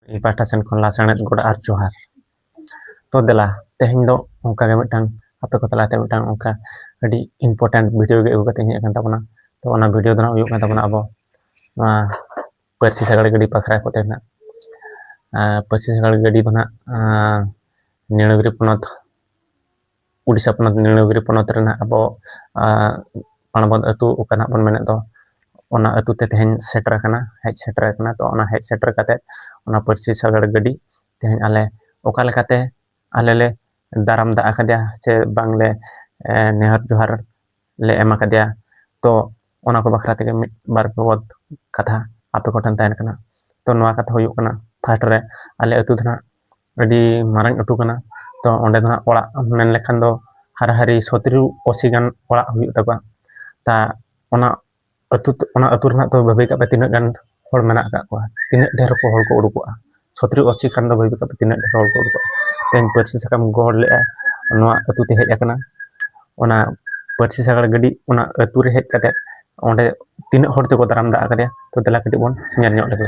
ᱤᱧ ᱯᱟᱦᱴᱟ ᱥᱮᱱ ᱠᱷᱚᱱ ᱞᱟᱥᱟᱬᱦᱮᱫ ᱜᱚᱰ ᱟᱨ ᱡᱚᱦᱟᱨ ᱛᱚ ᱫᱮᱞᱟ ᱛᱮᱦᱮᱧ ᱫᱚ ᱚᱱᱠᱟ ᱜᱮ ᱢᱤᱫᱴᱟᱝ ᱟᱯᱮ ᱠᱚ ᱛᱟᱞᱟᱛᱮ ᱢᱤᱫᱴᱟᱝ ᱚᱱᱠᱟ ᱟᱹᱰᱤ ᱤᱢᱯᱚᱨᱴᱮᱱᱴ ᱵᱷᱤᱰᱤᱭᱳ ᱜᱮ ᱟᱹᱜᱩ ᱠᱟᱛᱮᱧ ᱦᱮᱡ ᱟᱠᱟᱱ ᱛᱟᱵᱚᱱᱟ ᱛᱚ ᱚᱱᱟ ᱵᱷᱤᱰᱤᱭᱳ ᱫᱚ ᱱᱟᱜ ᱦᱩᱭᱩᱜ ᱠᱟᱱ ᱛᱟᱵᱚᱱᱟ ᱟᱵᱚ ᱱᱚᱣᱟ ᱯᱟᱹᱨᱥᱤ ᱥᱟᱜᱟᱲ ᱜᱟᱹᱰᱤ ᱵᱟᱠᱷᱨᱟ ᱠᱚᱛᱮ ᱱᱟᱜ ᱯᱟᱹᱨᱥᱤ ᱥᱟᱜᱟᱲ ᱜᱟᱹᱰᱤ ᱫᱚ ᱱᱟᱜ ᱱᱤᱲᱟᱹᱜᱨᱤ ᱯᱚᱱᱚᱛ ᱩᱰᱤᱥᱟ ᱯᱚᱱᱚᱛ ᱱᱤᱲᱚᱜᱤᱨᱤ ᱯᱚᱱᱚᱛ ᱨᱮᱱᱟᱜ ᱟᱵᱚ ᱯᱟᱬᱵᱚᱫ ᱟᱹᱛᱩ ᱚᱠᱟ ᱱᱟᱦᱟᱜ ᱵᱚᱱ ᱢᱮᱱᱮᱫ ᱫᱚ ᱚᱱᱟ ᱟᱹᱛᱩ ᱛᱮ ᱛᱮᱦᱮᱧ ᱥᱮᱴᱮᱨ ᱟᱠᱟᱱᱟ ᱦᱮᱡ ᱥᱮᱴᱮᱨ ᱟᱠᱟᱱᱟ ᱛᱚ ᱚᱱᱟ ᱦᱮᱡ ᱥᱮᱴᱮᱨ ᱠᱟᱛᱮ ᱚᱱᱟ ᱯᱟᱹᱨᱥᱤ ᱥᱟᱜᱟᱲ ᱜᱟᱹᱰᱤ ᱛᱮᱦᱮᱧ ᱟᱞᱮ ᱚᱠᱟ ᱞᱮᱠᱟᱛᱮ ᱟᱞᱮ ᱞᱮ ᱫᱟᱨᱟᱢ ᱫᱟᱜ ᱟᱠᱟᱫᱮᱭᱟ ᱥᱮ ᱵᱟᱝ ᱞᱮ ᱱᱮᱦᱚᱨ ᱡᱚᱦᱟᱨ ᱞᱮ ᱮᱢ ᱟᱠᱟᱫᱮᱭᱟ ᱛᱚ ᱚᱱᱟ ᱠᱚ ᱵᱟᱠᱷᱨᱟ ᱛᱮᱜᱮ ᱢᱤᱫ ᱵᱟᱨ ᱵᱟᱵᱚᱫ ᱠᱟᱛᱷᱟ ᱟᱯᱮ ᱠᱚᱴᱷᱮᱱ ᱛᱟᱦᱮᱱ ᱠᱟᱱᱟ ᱛᱚ ᱱᱚᱣᱟ ᱠᱟᱛᱷᱟ ᱦᱩᱭᱩᱜ ᱠᱟᱱᱟ ᱯᱷᱟᱥᱴ ᱨᱮ ᱟᱞᱮ ᱟᱹᱛᱩ ᱫᱚ ᱱᱟᱦᱟᱜ ᱟᱹᱰᱤ ᱢᱟᱨᱟᱝ ᱟᱹᱛᱩ ᱠᱟᱱᱟ ᱛᱚ ᱚᱸᱰᱮ ᱫᱚ ᱦᱟᱸᱜ ᱚᱲᱟᱜ ᱢᱮᱱ ᱞᱮᱠᱷᱟᱱ ᱫᱚ ᱦᱟᱨᱟ ᱦᱟᱨᱤ ᱥᱚᱛᱮᱨᱚ ᱟᱹᱥᱤ ᱜᱟᱱ ᱚᱲᱟᱜ ᱦᱩᱭᱩᱜ ᱛᱟᱠᱚᱣᱟ ᱛᱟ ᱚᱱᱟ ᱟᱹᱛᱩ ᱚᱱᱟ ᱟᱹᱛᱩ ᱨᱮᱱᱟᱜ ᱛᱚ ᱵᱷᱟᱹᱵᱤ ᱠᱟᱜ ᱯᱮ ᱛᱤᱱᱟᱹᱜ ᱜᱟᱱ ᱦᱚᱲ ᱢᱮᱱᱟᱜ ᱠᱟᱜ ᱠᱚᱣᱟ ᱛᱤᱱᱟᱹᱜ ᱰᱷᱮᱨ ᱠᱚ ᱦᱚᱲ ᱠᱚ ᱩᱰᱩᱠᱚᱜᱼᱟ ᱥᱚᱛᱮᱨᱚ ᱟᱹᱥᱤ ᱠᱷᱟᱱ ᱫᱚ ᱵᱷᱟᱹᱵᱤ ᱠᱟᱜ ᱯᱮ ᱛᱤᱱᱟᱹᱜ ᱰᱷᱮᱨ ᱦᱚᱲ ᱠᱚ ᱩᱰᱩᱠᱚᱜᱼᱟ ᱛᱮᱦᱮᱧ ᱯᱟᱹᱨᱥᱤ ᱥᱟᱠᱟᱢ ᱜᱚᱦᱚᱲ ᱞᱮᱜᱼᱟᱭ ᱱᱚᱣᱟ ᱟᱹᱛᱩ ᱛᱮ ᱦᱮᱡ ᱠᱟᱱᱟ ᱚᱱᱟ ᱯᱟᱹᱨᱥᱤ ᱥᱟᱜᱟᱲ ᱜᱟᱹᱰᱤ ᱚᱱᱟ ᱟᱹᱛᱩ ᱨᱮ ᱦᱮᱡ ᱠᱟᱛᱮ ᱚᱸᱰᱮ ᱛᱤᱱᱟᱹᱜ ᱦᱚᱲ ᱛᱮᱠᱚ ᱫᱟᱨᱟᱢ ᱫᱟᱜ ᱟᱠᱟᱫᱮᱭᱟ ᱛᱚ ᱫᱮᱞᱟ ᱠᱟᱹᱴᱤᱡ ᱵᱚᱱ ᱧᱮᱞ ᱧᱚᱜ ᱞᱮᱜᱮ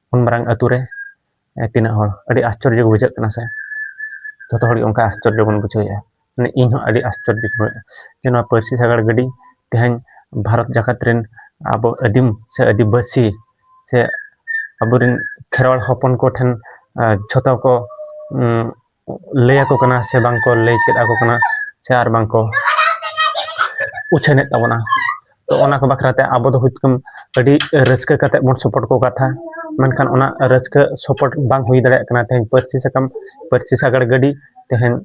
ᱩᱱ ᱢᱟᱨᱟᱝ ᱟᱛᱳ ᱨᱮ ᱛᱤᱱᱟᱹᱜ ᱦᱚᱲ ᱟᱹᱰᱤ ᱟᱥᱪᱚᱨᱡᱚ ᱵᱩᱡᱷᱟᱹᱜ ᱠᱟᱱᱟ ᱥᱮ ᱡᱚᱛᱚ ᱦᱚᱲ ᱜᱮ ᱚᱱᱠᱟ ᱟᱥᱪᱚᱨᱡᱚ ᱵᱚᱱ ᱵᱩᱡᱷᱟᱹᱣᱮᱫᱼᱟ ᱢᱟᱱᱮ ᱤᱧ ᱦᱚᱸ ᱟᱹᱰᱤ ᱟᱥᱪᱚᱨᱡᱚ ᱵᱩᱡᱷᱟᱹᱣᱮᱫᱼᱟ ᱡᱮ ᱱᱚᱣᱟ ᱯᱟᱹᱨᱥᱤ ᱥᱟᱜᱟᱲ ᱜᱟᱹᱰᱤ ᱛᱮᱦᱮᱧ ᱵᱷᱟᱨᱚᱛ ᱡᱟᱠᱟᱛ ᱨᱮᱱ ᱟᱵᱚ ᱟᱹᱫᱤᱢ ᱥᱮ ᱟᱹᱫᱤᱵᱟᱹᱥᱤ ᱥᱮ ᱟᱵᱚᱨᱮᱱ ᱠᱷᱮᱨᱣᱟᱞ ᱦᱚᱯᱚᱱ ᱠᱚᱴᱷᱮᱱ ᱡᱷᱚᱛᱚ ᱠᱚ ᱞᱟᱹᱭ ᱟᱠᱚ ᱠᱟᱱᱟ ᱥᱮ ᱵᱟᱝ ᱠᱚ ᱞᱟᱹᱭ ᱪᱮᱫ ᱟᱠᱚ ᱠᱟᱱᱟ ᱥᱮ ᱟᱨ ᱵᱟᱝ ᱠᱚ ᱩᱪᱷᱟᱹᱱᱮᱫ ᱛᱟᱵᱚᱱᱟ ᱛᱚ ᱚᱱᱟ ᱠᱚ ᱵᱟᱠᱷᱨᱟ ᱛᱮ ᱟᱵᱚ ᱫᱚ ᱦᱚᱭᱛᱳ ᱟᱹᱰᱤ ᱨᱟᱹᱥᱠᱟᱹ ᱠᱟᱛᱮᱫ ᱵᱚᱱ ᱥᱚᱯᱚᱨᱴ ᱠᱚ ᱠᱟᱛᱷᱟ ᱢᱮᱱᱠᱷᱟᱱ ᱚᱱᱟ ᱨᱟᱹᱥᱠᱟᱹ ᱥᱚᱯᱚᱨᱴ ᱵᱟᱝ ᱦᱩᱭ ᱫᱟᱲᱮᱭᱟᱜ ᱠᱟᱱᱟ ᱛᱮᱦᱮᱧ ᱯᱟᱹᱨᱥᱤ ᱥᱟᱠᱟᱢ ᱯᱟᱹᱨᱥᱤ ᱥᱟᱜᱟᱲ ᱜᱟᱹᱰᱤ ᱛᱮᱦᱮᱧ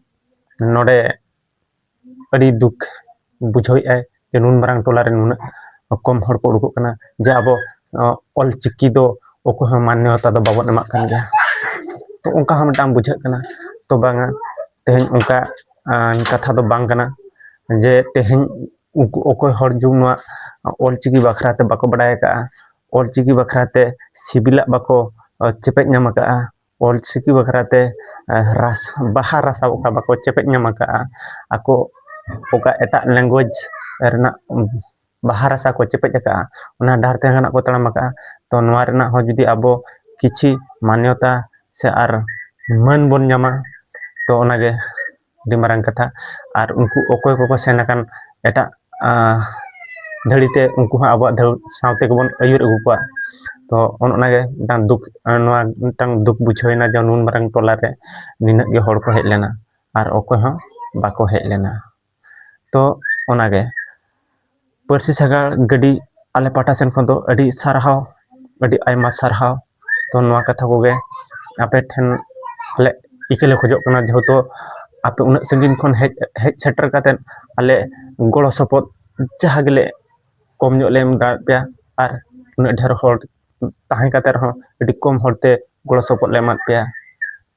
ᱱᱚᱰᱮ ᱟᱹᱰᱤ ᱫᱩᱠ ᱵᱩᱡᱷᱟᱹᱣᱮᱫᱼᱟᱭ ᱡᱮ ᱱᱩᱱ ᱢᱟᱨᱟᱝ ᱴᱚᱞᱟᱨᱮ ᱱᱩᱱᱟᱹᱜ ᱠᱚᱢ ᱦᱚᱲ ᱠᱚ ᱩᱰᱩᱠᱚᱜ ᱠᱟᱱᱟ ᱡᱮ ᱟᱵᱚ ᱚᱞ ᱪᱤᱠᱤ ᱫᱚ ᱚᱠᱚᱭ ᱦᱚᱸ ᱢᱟᱱᱱᱚᱛᱟ ᱫᱚ ᱵᱟᱵᱚᱱ ᱮᱢᱟᱜ ᱠᱟᱱ ᱜᱮᱭᱟ ᱛᱚ ᱚᱱᱠᱟ ᱦᱚᱸ ᱢᱤᱫᱴᱟᱝ ᱵᱩᱡᱷᱟᱹᱜ ᱠᱟᱱᱟ ᱛᱚ ᱵᱟᱝᱟ ᱛᱮᱦᱮᱧ ᱚᱱᱠᱟ ᱠᱟᱛᱷᱟ ᱫᱚ ᱵᱟᱝ ᱠᱟᱱᱟ ᱡᱮ ᱛᱮᱦᱮᱧ ᱩᱱᱠᱩ ᱚᱠᱚᱭ ᱦᱚᱲ ᱡᱮ ᱱᱚᱣᱟ ᱚᱞ ᱪᱤᱠᱤ ᱵᱟᱠᱷᱨᱟ ᱛᱮ ᱵᱟᱠᱚ ᱵᱟᱲᱟᱭ ᱠᱟᱜᱼᱟ ᱚᱞ ᱪᱤᱠᱤ ᱵᱟᱠᱷᱨᱟ ᱛᱮ ᱥᱤᱵᱤᱞᱟᱜ ᱵᱟᱠᱚ ᱪᱮᱯᱮᱡ ᱧᱟᱢ ᱠᱟᱜᱼᱟ ᱚᱞ ᱪᱤᱠᱤ ᱵᱟᱠᱷᱨᱟ ᱛᱮ ᱨᱟᱥ ᱵᱟᱦᱟ ᱨᱟᱥᱟ ᱚᱠᱟ ᱵᱟᱠᱚ ᱪᱮᱯᱮᱡ ᱧᱟᱢ ᱟᱠᱟᱫᱼᱟ ᱟᱠᱚ ᱚᱠᱟ ᱮᱴᱟᱜ ᱞᱮᱝᱜᱩᱭᱮᱡᱽ ᱨᱮᱱᱟᱜ ᱵᱟᱦᱟ ᱨᱟᱥᱟ ᱠᱚ ᱪᱮᱯᱮᱡ ᱟᱠᱟᱫᱼᱟ ᱚᱱᱟ ᱰᱟᱦᱟᱨ ᱛᱮ ᱱᱟᱦᱟᱜ ᱠᱚ ᱛᱟᱲᱟᱢ ᱟᱠᱟᱫᱼᱟ ᱛᱚ ᱱᱚᱣᱟ ᱨᱮᱱᱟᱜ ᱦᱚᱸ ᱡᱩᱫᱤ ᱟᱵᱚ ᱠᱤᱪᱷᱤ ᱢᱟᱱᱱᱚᱛᱟ ᱥᱮ ᱟᱨ ᱢᱟᱹᱱ ᱵᱚᱱ ᱧᱟᱢᱟ ᱛᱚ ᱚᱱᱟᱜᱮ ᱟᱹᱰᱤ ᱢᱟᱨᱟᱝ ᱠᱟᱛᱷᱟ ᱟᱨ ᱩᱱᱠᱩ ᱚᱠᱚᱭ ᱠᱚᱠᱚ ᱥᱮᱱ ᱟᱠᱟᱱ ᱮᱴᱟᱜ ᱫᱷᱟᱹᱲᱤ ᱛᱮ ᱩᱱᱠᱩ ᱦᱚᱸ ᱟᱵᱚᱣᱟᱜ ᱫᱷᱟᱹᱲ ᱥᱟᱶ ᱛᱮᱜᱮ ᱵᱚᱱ ᱟᱹᱭᱩᱨ ᱟᱹᱜᱩ ᱠᱚᱣᱟ ᱛᱚ ᱚᱱ ᱚᱱᱟᱜᱮ ᱢᱤᱫᱴᱟᱝ ᱫᱩᱠ ᱱᱚᱣᱟ ᱢᱤᱫᱴᱟᱝ ᱫᱩᱠ ᱵᱩᱡᱷᱟᱹᱣᱮᱱᱟ ᱡᱮ ᱱᱩᱱ ᱢᱟᱨᱟᱝ ᱴᱚᱞᱟ ᱨᱮ ᱱᱤᱱᱟᱹᱜ ᱜᱮ ᱦᱚᱲ ᱠᱚ ᱦᱮᱡ ᱞᱮᱱᱟ ᱟᱨ ᱚᱠᱚᱭ ᱦᱚᱸ ᱵᱟᱠᱚ ᱦᱮᱡ ᱞᱮᱱᱟ ᱛᱚ ᱚᱱᱟᱜᱮ ᱯᱟᱹᱨᱥᱤ ᱥᱟᱜᱟᱲ ᱜᱟᱹᱰᱤ ᱟᱞᱮ ᱯᱟᱦᱴᱟ ᱥᱮᱱ ᱠᱷᱚᱱ ᱫᱚ ᱟᱹᱰᱤ ᱥᱟᱨᱦᱟᱣ ᱟᱹᱰᱤ ᱟᱭᱢᱟ ᱥᱟᱨᱦᱟᱣ ᱛᱚ ᱱᱚᱣᱟ ᱠᱟᱛᱷᱟ ᱠᱚᱜᱮ ᱟᱯᱮ ᱴᱷᱮᱱ ᱟᱞᱮ ᱤᱠᱟᱹ ᱞᱮ ᱠᱷᱚᱡᱚᱜ ᱠᱟᱱᱟ ᱡᱮᱦᱮᱛᱩ ᱟᱯᱮ ᱩᱱᱟᱹᱜ ᱥᱟᱺᱜᱤᱧ ᱠᱷᱚᱱ ᱦᱮᱡ ᱦᱮᱡ ᱥᱮᱴᱮᱨ ᱠᱟᱛᱮ ᱟᱞᱮ ᱜᱚᱲᱚ ᱥᱚᱯᱚᱦᱚᱫ ᱡᱟᱦᱟᱸ ᱜᱮᱞᱮ ᱠᱚᱢ ᱧᱚᱜ ᱞᱮ ᱮᱢ ᱫᱟᱲᱮᱭᱟᱜ ᱯᱮᱭᱟ ᱟᱨ ᱩᱱᱟᱹᱜ ᱰᱷᱮᱨ ᱦᱚᱲ ᱛᱟᱦᱮᱸ ᱠᱟᱛᱮ ᱨᱮᱦᱚᱸ ᱟᱹᱰᱤ ᱠᱚᱢ ᱦᱚᱲ ᱛᱮ ᱜᱚᱲᱚ ᱥᱚᱯᱚᱦᱚᱫ ᱞᱮ ᱮᱢᱟᱜ ᱯᱮᱭᱟ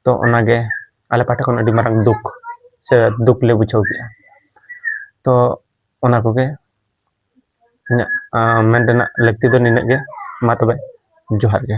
ᱛᱚ ᱚᱱᱟᱜᱮ ᱟᱞᱮ ᱯᱟᱦᱴᱟ ᱠᱷᱚᱱ ᱟᱹᱰᱤ ᱢᱟᱨᱟᱝ ᱫᱩᱠ ᱥᱮ ᱫᱩᱠ ᱞᱮ ᱵᱩᱡᱷᱟᱹᱣ ᱠᱮᱜᱼᱟ ᱛᱚ ᱚᱱᱟ ᱠᱚᱜᱮ ᱤᱧᱟᱹᱜ ᱢᱮᱱ ᱨᱮᱱᱟᱜ ᱞᱟᱹᱠᱛᱤ ᱫᱚ ᱱᱤᱱᱟᱹᱜ ᱜᱮ ᱢᱟ ᱛᱚᱵᱮ ᱡᱚᱦᱟᱨ ᱜᱮ